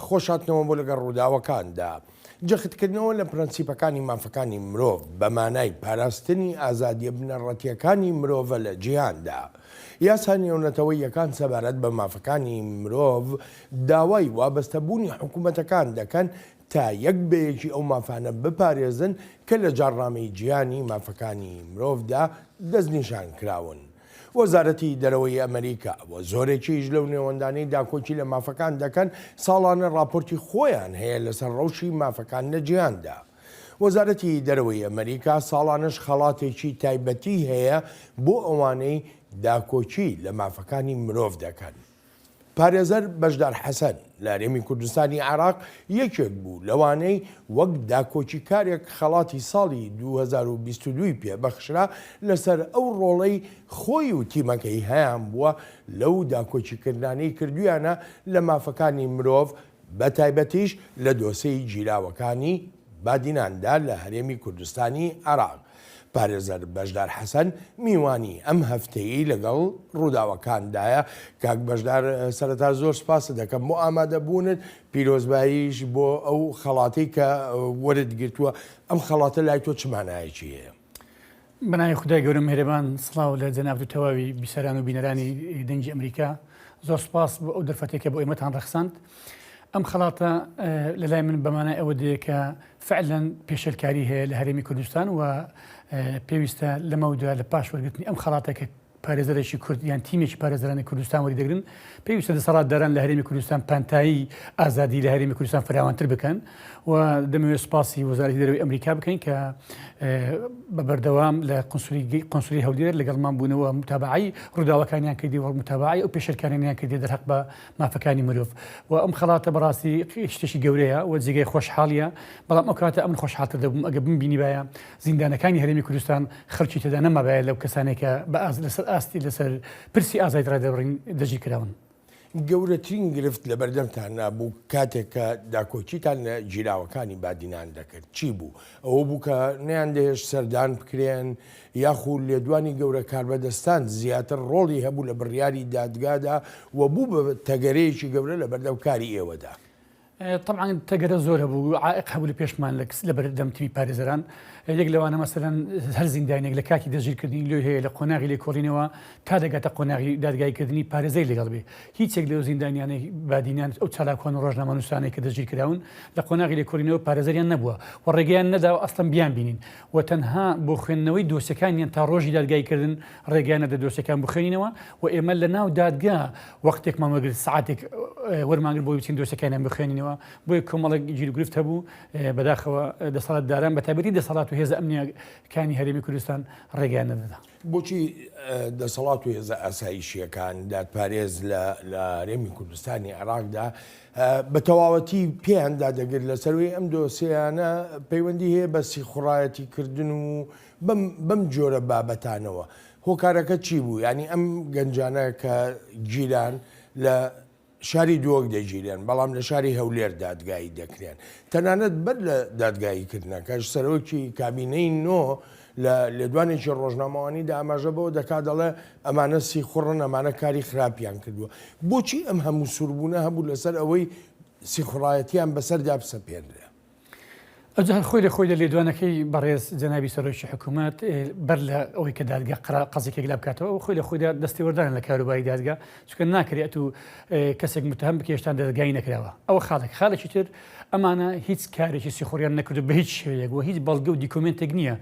خۆشهاتنەوە بۆ لەگەڵ ڕووداوەکاندا. جەختکردنەوە لە پرەنسیپەکانی مافەکانی مرۆڤ بە مانای پاراستنی ئازادییە بنەڕەتییەکانی مرۆڤە لە جیهاندا. یاسا نێونەتەوەییەکان سەبارەت بە مافەکانی مرۆڤ داوای وابەستەبوونی حکومەتەکان دەکەن تا یەک بە یەکی ئەو مافانە بپارێزن کە لە جاڕنامەی جیهانی مافەکانی مرۆڤدا دەستنیشانکراون. وەزارەتی دەرەوەی ئەمەریکا و زۆرێکیش لەو نێوەندانەی داکۆکی لە مافەکان دەکەن ساڵانە ڕاپۆرتی خۆیان هەیە لەسەر ڕەوشی مافەکان لە جیهاندا. وەزارەتی دەرەوەی ئەمەریکا ساڵانەش خەڵاتێکی تایبەتی هەیە بۆ ئەوانەی داکۆکی لە مافەکانی مرۆڤ دەکەن. پارێزەر بەشدار حەسەن، لە هەرێمی کوردستانی عێراق یەکێک بوو لەوانەی وەک داکۆکیکارێک خەڵاتی ساڵی دوو هەزار و بیست و دوو ی پێ بەخشرا لەسەر ئەو ڕۆڵەی خۆی و تیمەکەی هەیانبووە لەو داکۆکیکردنانەی کردوویانە لە مافەکانی مرۆڤ بەتایبەتیش لە دۆسێی گیراوەکانی بادیناندا لە هەرێمی کوردستانی عێراق. پارێزەر بەشدار حەسەن میوانی ئەم هەفتەیەی لەگەڵ ڕووداوەکاندایە. کاک بەشدار سەرەتا زۆر سپاست دەکەم بۆ ئامادەبوونت، پیرۆزباییش بۆ ئەو خەڵاتەی کە وەرت گرتووە، ئەم خەڵاتە لای تۆ چ مانایەکی هەیە؟ بەناوی خودای گەورە میهرەبان سڵاو لە جەنابت و تەواوی بیسەران و بینەرانی دەنگی ئەمریکا زۆر سپاس بۆ ئەو دەرفەتێک کە بۆ ئێمەتان ڕەخساند ئەم خەڵاتە لە لای من بەمانای ئەوە دەیە کە فعلەن پێشلکاری هەیە لە هەرێمی کوردستان و پێویستە لەمەودا لە پاش وەرگرتنی ئەم خەڵاتە کە پارێزەرێکی کورد یان تیمێکی پارێزەرانی کوردستان وەریدەگرن، پێویستە دەسەڵاتداران لە هەرێمی کوردستان پانتایی ئازادی لە هەرێمی کوردستان فراوانتر بکەن و دەمەوێت سپاسی وەزارەتی دەرەوەی ئەمریکا بکەین کە بە بەردەوام لە قنسولی قنسولی هەولێر لەگەڵمان بوونەوە متابعی ڕووداوەکانیان کردی وەڵ متابعی ئەو پێشرکانیان کردی دەرحق بە مافەکانی مرۆڤ و ئەم خەڵاتە بەڕاستی شتێکی گەورەیە و جێگەی خۆشحاڵیە بەڵام ئەو کاتە ئەمن خۆشحاتە دەبووم ئەگە بمبینی باە زیندانەکانی هەرێمی کوردستان خەڵکی تێدا نەمابایە لەو کەسانەی کە بە ئاست لەسەر ئاستی لەسەر پرسی ئازادی ڕادەربڕین دەستگیر کراون. گەورەترین گرفت لە بەردەمتاندا بوو کاتێک کە داکۆکیتان لە گیراوەکانی بادینان دەکرد چی بوو؟ ئەوە بوو کە نەیاندەهێشت سەردان بکرێن یاخو لێدوانی گەورە کاربەدەستان زیاتر ڕۆڵی هەبوو لە بڕیاری دادگادا و بوو بە تەگەرەیەکی گەورە لە بەردەم کاری ئێوەدا. تەبعەن تەگەرە زۆر هەبوو و عائق هەبوو لە پێشمان لە کس لە بەردەم تیمی پارێزەران یەک لەوانە مەسەرەن هەر زیندانێک لە کاتی دەژیرکردنی لۆی هەیە لە قۆناغی لێ کۆڵینەوە تا دەگاتە قۆناغی دادگایکردنی پارێزەی لەگەڵ بێ هیچێک لەو زیندانیانەی بادینان ئەو چالاکوان و ڕۆژنامەنووسانێک کە دەژیرکراون لە قۆناغی لێ کۆلینەوە پارێزەریان نەبووە و ڕێگەیان نەداوە ئەستەم بیان بینین و تەنها بۆ خوێندنەوەی دۆسیەکانیان تا ڕۆژی دادگایی کردن ڕێگەیان نەدە دۆسیەکان بخوێنینەوە و ئێمە لە ناو دادگا وەختێکمان وەگرت سعاتێک وەرمانگر بۆی بچین دۆسیەکانیان بخوێنینەوە بۆی کۆمەڵک گیرگرفت هەبوو بەداخەوە دەسەڵات داران بە تابەتی دەسەڵات و هێز ئەمنیەکانی هەرێمی کوردستان ڕێگەیان نەدەدا. بۆچی دەسەڵات و هێزە ئاسایشییەکان، دادپارێز لە هەرێمی کوردستانی عێراقدا بە تەواوەتی پێیان دادەگرت لە سەروی ئەم دۆسیانە پەیوەندی هەیە بە سیخوڕایەتی کردن و بەم جۆرە بابەتانەوە هۆکارەکە چی بوو ینی ئەم گەنجانە کە گیران لە شاری دووەک دەگیرێن، بەڵام لە شاری هەولێر دادگایی دەکرێن. تەنانەت بەر لە دادگایی کردنەکەش، سەرۆکی کابینەی نۆ لە لێدوانێکی ڕۆژنامەوانیدا ئاماژە بەوە دەکات دەڵێ، ئەمانە سیخوڕن، ئەمانە کاری خراپیان کردووە. بۆچی ئەم هەموو سووربوونە هەبوو لەسەر ئەوەی سیخوڕایەتییان بەسەردا بسەپێنرێ؟ ئەوجا خۆی لە خۆی لە لێدوانەکەی بەڕێز جەنابی سەرۆکی حکوومەت بەر لە ئەوەی کە دادگە قڕا قەزیکێک لە بکاتەوە و خۆی لە خۆیدا دەستێوەردان لە کاروباری دادگە چکە ناکرێت و کەسێک متهم بکێشتان دەستگای نەکراوە ئەوە خاڵێک خاڵێکی تر ئەمانە هیچ کارێکی سیخوریان نەکرد بە هیچ شێوەیەک و هیچ بەڵگە و دیکۆمنتێک نییە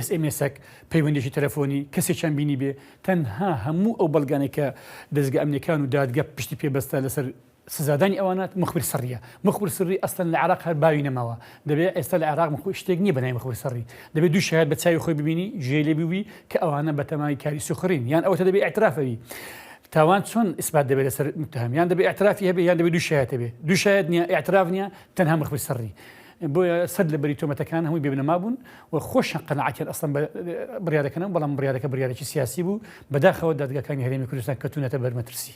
SMSەک پەیوەندێکی تەلەفۆنی کەسێکیان بینی بێ تەنها هەموو ئەو بەڵگانێکە دەستگە ئەمنیەکان و دادگە پشتی پێبەستە لەسەر سزادانی ئەوانە مخبر سریە مخبر سری ئەسلەن لە عێراق هەر باوی نەماوە دەبێت ئێستا لە عێراق مخبر شتێک نیە بە ناوی مخبر سری دەبێت دوو شایەت بە چاوی خۆی ببینی جێی لێ بووی کە ئەوانە بە تەمای کاری سوخرین یان ئەوەتە دەبێت ئیعتراف ئەوی تاوان چۆن ئیسبات دەبێت لەسەر متهم یان دەبێت ئیعترافی هەبێت یان دەبێت دوو شایەت هەبێت دوو شایەت نیە ئیعتراف نیە تەنها مخبر سری بۆیە سەد لە بەری تۆمەتەکان هەمووی بێبنەما بوون و خۆشە قەنەعاتیان ئەسڵم بڕیارەکەنەوە بەڵام بڕیارەکە بڕیارێکی سیاسی بوو بەداخەوە دادگاکانی هەرێمی کوردستان کەتونەتە بەرمەترسی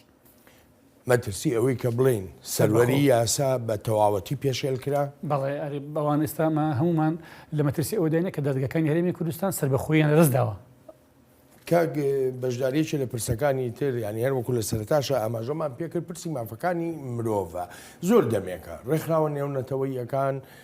مەترسی ئەوەی کە بڵێین سەروەری یاسا بە تەواوەتی پێشێل کرا؟ بەڵێ ئەرێ بەوان ئێستا مە هەمومان لە مەترسی ئەوەداینە کە دادگەکانی هەرێمی کوردستان سەربەخۆییان لە دەست داوە. کاک بەشداریەکی لە پرسەکانی تر یعنی هەر وەکو لە سەرتاشە ئاماژەمان پێکرد پرسی مافەکانی مرۆڤە زۆر دەمێکە ڕێکخراوە نێونەتەوەیەکان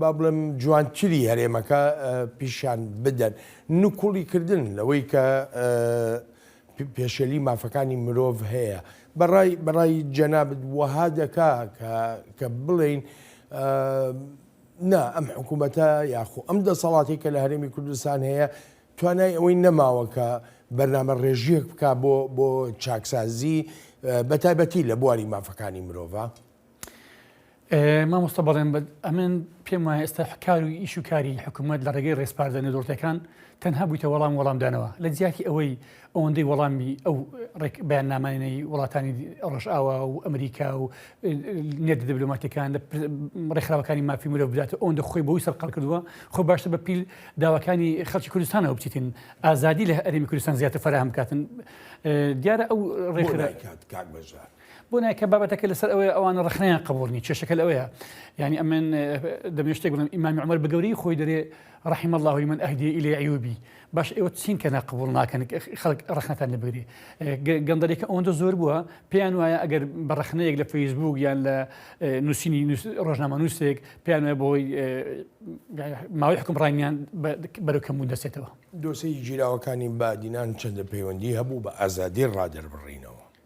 با بڵێم جوانتری هەرێمەکە پیشان بدەن نکوڵی کردن لەوەی کە پێشێلی مافەکانی مرۆڤ هەیە بەڕای بەڕای جەنابت وەها دەکا کە بڵین نا ئەم حکوومەتە یاخۆ ئەم دەسەڵاتی کە لە هەرێمی کوردستان هەیە توانای ئەوەی نەماوەکە بەرنامە ڕێژیەک بک بۆ بۆ چاکسازی بە تایبەتی لە بواری مافەکانی مرۆڤ. مامۆستا بەڵێن بە ئەمن پێم وایە ئێستا حکار و ئیش و کاری حکوومەت لە ڕێگەی ڕێسپاردە نەدۆرتەکان تەنها بوویتە وەڵام وەڵامدانەوە لە جیاتی ئەوەی ئەوەندەی وەڵامی ئەو ڕێک بەیان نامانەی وڵاتانی ڕۆژئاوا و ئەمریکا و نێت دبلوماتەکان لە ڕێکخراوەکانی مافی مرۆ بدات ئەوەندە خۆی بۆی سەرقەڵ کردووە خۆ باشتە بە پیل داواکانی خەڵکی کوردستانەوە بچیتن ئازادی لە ئەرێمی کوردستان زیاتر فراهم بکاتن دیارە ئەو ڕێکخراکات کاک بەژار بۆ نایکا بابەتەکە لەسەر ئەوەیە ئەوانە ڕخنەیان قبوڵ نی کێشەکە لەوەیە یعنی ئەمن دەمێ شتێک بڵم ئیمامی عمر بەگەوری خۆی دەرێ ڕحیم الله من ئەهدی ئیلی عیوبی باش ئێوە چین کە ناقبول ناکەن خەڵک ڕخنەتان لەبگری گەندەلێکە ئەوەندە زۆر بووە پێیان وایە ئەگەر بە ڕخنەیەک لە فەیسبوک یان لە نووسینی ڕۆژنامە نووسێک پێیان وایە بۆی ماوەی حکومڕانیان بەرەو کەمبوون دەسێتەوە دۆسەی گیراوەکانی بادینان چەندە پەیوەندی هەبوو بە ئازادی ڕادەربڕینەوە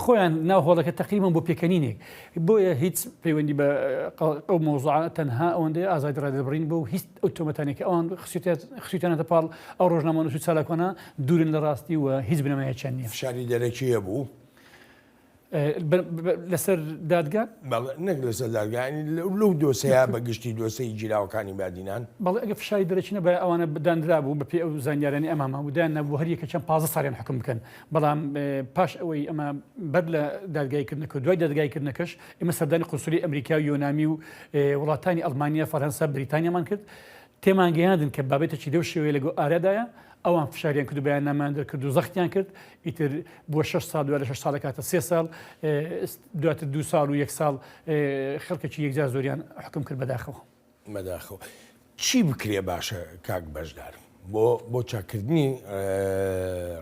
خۆیان ناو هۆڵەکە تەقریبەن بۆ پێکەنینێک بۆیە هیچ پەیوەندی بە ئەو مەوزوعە تەنها ئەوەندەی ئازادی ڕادەربڕین بۆ هیچ ئەو تۆمەتانێک کە ئەوان خسیوتانەتە پاڵ ئەو ڕۆژنامەنووس و چالاکوانە دوورن لە ڕاستی و هیچ بنەمایەکیان نییە فشاری دەرەکی هەبوو لەسەر دادگا نەک لەسەر دادگانی لەو دۆسەیە بە گشتی دۆسەی گیراوەکانی بادینان بەڵێ ئەگە فشاری دەرەچینە بە ئەوانە بداندرا بوو بەپێ ئەو زانیارانی ئەمامە ودایان نەبوو هەریەکە چەند پازە ساێن حکم بکەن بەڵام پاش ئەوەی ئەمە بەر لە دادگای کردنەکە و دوای دادگای کردنەکەش ئمە سەردانی قسولی ئەمریکا و یۆنامی و وڵاتانی ئەلمانیا فەرەنسا بریتانیامان کرد تێمانگەیاندن کە بابێتە چی دەو شێوەیە لەگۆ ئارادایە ئەوان فشاریان کرد بەیان نامان دەرکرد و زەختیان کرد ئیتر بۆ 6 سال دوای لە 6 ساڵە کاتە سێ ساڵ دواتر دو ساڵ و یەک ساڵ خەڵکێکی یەکجار زۆریان حکم کرد بەداخەوە. بەداخەوە چی بکرێ باشە کاک بەشدار بۆ بۆ چاکردنی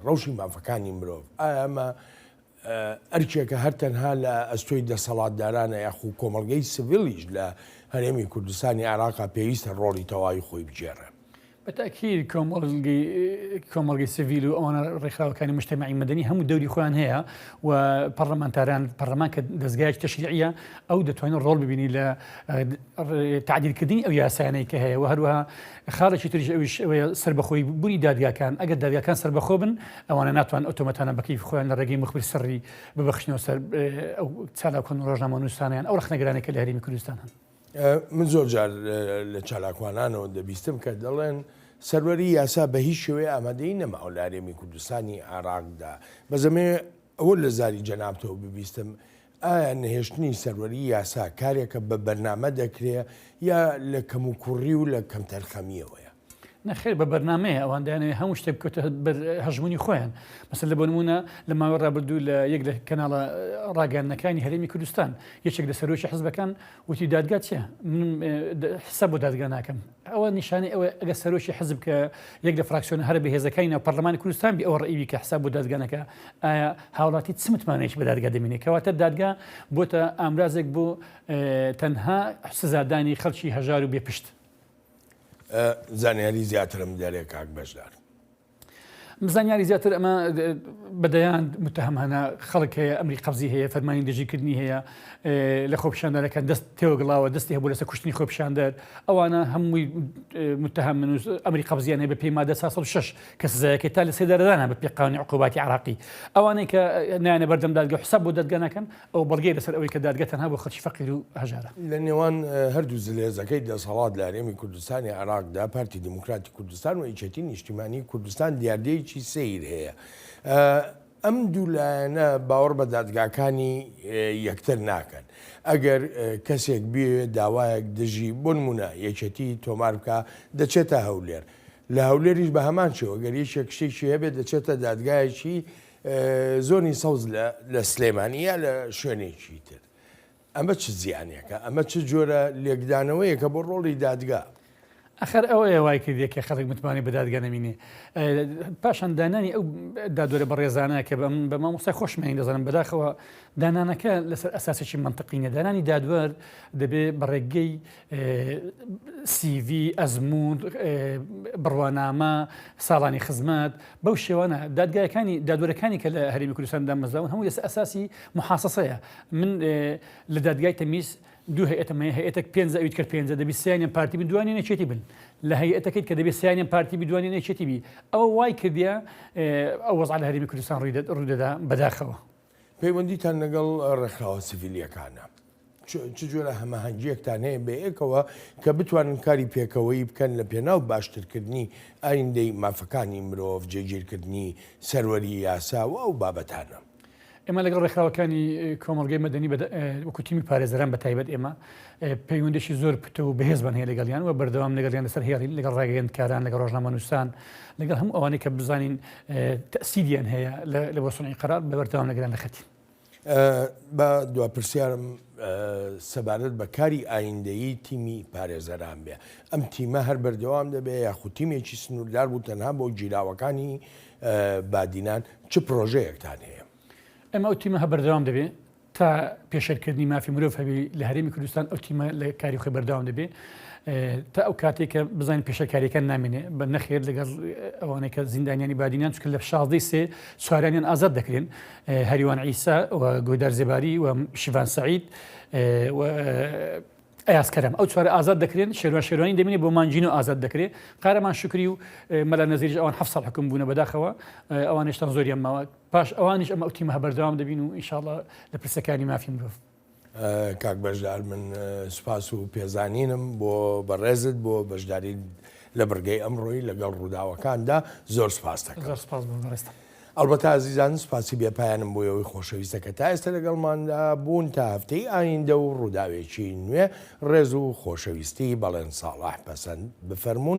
ڕەوشی مافەکانی مرۆڤ ئامە ئەرکێکە هەر تەنها لە ئەستۆی دەسەڵاتدارانە یاخو کۆمەلگەی سڤلیش لە هەرێمی کوردستانی عراقا پێویستە ڕۆڵی تەواوی خۆی بگێڕێ بە تەئکید کۆمەڵگەی کۆمەڵگەی سڤیل و ئەوانە ڕێکخراوەکانی مشتەمەعی مەدەنی هەموو دەوری خۆیان هەیە و پەرلەمانتاران پەرلەمان کە دەستگایەکی تەشریعە ئەو دەتوانێت ڕۆڵ ببینی لە تعدیلکردنی ئەو یاسایانەی کە هەیە و هەروەها خاڵێکی تریش ئەویش ئەوەیە سربەخۆی بوونی دادگاکان ئەگەر دادگاکان سربەخۆ بن ئەوانە ناتوان ئۆتۆمەتانە بەکەیف خۆیان لە ڕێگەی مخبر سڕی ببەخشنەوە سەر ئەو چالاکۆن ڕۆژنامە نووسانیان ئەو ڕخنەگرانێکە لە هەرێمی کوردستان هەن. من زۆر جار لە چالاکوانانەوە دەبیستم کە دەڵێن سەروەری یاسا بە هیچ شێوەیە ئامادەی نەماوە لە هەرێمی کوردستانی عێراقدا بەزەمێ ئەوە لە زاری جەنابتەوە ببیستم ئایا نەهێشتنی سەروەری یاسا کارێکە بە بەرنامە دەکرێ یا لە کەم و کوڕی و لە کەمتەرخەمیەوەیە نەخێر بە بەرنامەیە ئەوان دەیانەوێت هەموو شتێک بکەوتە بەر هەژمونی خۆیان مەسەر لە بۆنمونە لە ماوە ڕابردوو لە یەک لە کەناڵە ڕاگەاندنەکانی هەرێمی کوردستان یەکێک لە سەرۆکی حزبەکان وتی دادگا چیە حسە بۆ دادگا ناکەم ئەوە نیشانی ئەوە ئەگە سەرۆکی حزب کە یەک لە فراکسیۆن هەر بەهێزەکانی ناو پەرلەمانی کوردستان بی ئەو ڕئیوی کە حساب بۆ دادگانەکە ئایا هاوڵاتی چ متمانەیەکی بە دادگا دەمینێ کەواتە دادگا بۆتە ئامرازێک بۆ تەنها سزادانی خەڵکی هەژار و بێپشت زانیاری زیاترم بدەرێ کاک بەشدار. زانیاری زیاتر ئەمە بەدەیان متهم هەنا خەڵک هەیە ئەمری قەبزی هەیە فەرمانی دژیکردنی هەیە لە خۆپیشاندەرەکان دەست تێوەگڵاوە دەستی هەبوو لەسە کوشتنی خۆپیشاندەر ئەوانە هەمووی متهم من ئەمری قەبزیان هەیە بە پێی مادە 6 کە سزایەکە تا لە سێدارەدانە بە پێقاونی عقوباتی عراقی ئەوانەی کە نانە بەردەم دادگە حساب بۆ دەدگەنەکەن ئەوە بەڵگەیە لەسەر ئەوەی کە دادگە تەنها بۆ خەڵکی فەقیر و هەژارە. لە نێوان هەردوو زلهێزەکەی دەسهەڵات لە هەرێمی کوردستانی عێراقدا، پارتی دیموکراتی کوردستان و یەکێتی نیشتیمانی کوردستان دیاردەیەکی سەیر هەیە. ئەم دوو لایەنە باوەڕ بە دادگاکانی یەکتر ناکەن ئەگەر کەسێک بێ داوایەک دژی بۆ نمونە یەکێتی تۆمار بکە دەچێتە هەولێر لە هەولێریش بە هەمان شێوە گەریشێک شتێکی هەبێت دەچێتە دادگایەکی زۆنی سەوز لە سلێمانی یا لە شوێنێکی تر ئەمە چ زیانێکە ئەمە چ جۆرە لێکدانەوەیەکە بۆ ڕۆڵی دادگا ئەخر ئەو ئێ وای کردێک کە خەڵک متمانی بەدادگە نەمینێ پاشان دانانی ئەو دادۆرە بە ڕێزانە کە بەم بە مامۆسای خۆشمانی دەزانم بەداخەوە دانانەکە لەسەر ئەساسێکی منطقینە دانانی دادوەر دەبێ بەڕێگەی سیڤی، ئەزموون، بڕوانامە، ساڵانی خزمەت، بەو شێوانە دادگایەکانی دادوەرەکانی کە لە هەرێمی کوردستان دامەزراون هەموو لەسەر ئەساسی محاسەسەیە من لە دادگای تەمیز دوو هەیەتەمە هەیەتەک پێ ئەویت کرد پێ دەبی سیانیان پارتی بدوانێ نەچێتی بن لە هەیەتەکەیت کە دەبێت سیانیان پارتی بدوانێ نەچێتی بی ئەوە وای کردە ئەو وەزع لە هەرمی کوردستان ڕووی ڕوودەدا بەداخەوە پەیوەندیتان لەگەڵ ڕێکخراوە سڤیلیەکانە چ جۆرە هەمەهەنگیەکتان هەیە بەیەکەوە کە بتوانن کاری پێکەوەی بکەن لە پێناو باشترکردنی ئایندەی مافەکانی مرۆڤ جێگیرکردنی سەروەری یاسا و ئەو بابەتانە. ئێمە لەگەڵ ڕێکخراوەکانی کۆمەڵگەی مەدەنی وەکو تیمی پارێزەران بە تایبەت ئێمە پەیوەندیەکی زۆر پتەو و بەهێزمان هەیە لەگەڵیان و بەردەوام لەگەڵیان لەسەر هێڵین لەگەڵ ڕاگەیەندکاران لەگەڵ ڕۆژنامەنووسان لەگەڵ هەموو ئەوانەی کە بزانین تەسیریان هەیە لە بۆ سنعی قەرار بە بەردەوام لەگەڵیان لەخەتین. با دوا پرسیارم سەبارەت بە کاری ئایندەیی تیمی پارێزەران بێ ئەم تیمە هەر بەردەوام دەبێ یاخود تیمێکی سنووردار بوو تەنها بۆ گیراوەکانی بادینان چ پرۆژەیەکتان هەیە؟ ئەمە ئەو تیمە هە بەردەوام دەبێ تا پێشێلکردنی مافی مرۆڤ هەبێ لە هەرێمی کوردستان ئەو تیمە لە کاری خۆی بەرداوام دەبێ تا ئەو کاتێک کە بزانین پێشەکاریەکان نامێنێ بە نەخێر لەگەڵ ئەوانەی کە زیندانیانی بادینان چکە لە شازدەی سێ چواریانیان ئازاد دەکرێن هەریوان ئیسا گۆدار زێباری و شیڤان سعید ئەسکەرم ئەو چوار ئازاد دەکرێن شێوان شێوانی دەمێنێ بۆ مانجینۆ ئازاد دەکرێت قارەمان شکری و مەلا نەزیرش ئەوان حفصل حکم بوونە بەداخەوە ئەوانشتان زۆریان ماوە پاش ئەوانیش ئەم ئەو تیمە بەردەوام دەبین و ئینشاءاللە لە پرسەکانی مافی مرۆڤ. کاک بەشدار من سوپاس و پێزانینم بۆ بەڕێزت بۆ بەشداری لە بڕگەی ئەمڕۆی لەگەڵ ڕووداوەکاندا زۆر سپاس دەکەم سپاس بۆ بەڕێزتان. ئەڵبەتا زیزان سوپاسی بێپایانم بۆ ئەوەی خۆشەویستە کە تا ئێستا لەگەڵماندا بوون تا هەفتەی ئایندە و ڕووداوێکی نوێ ڕێز و خۆشەویستی بەڵێن ساڵح پەسەند بفەرمونون.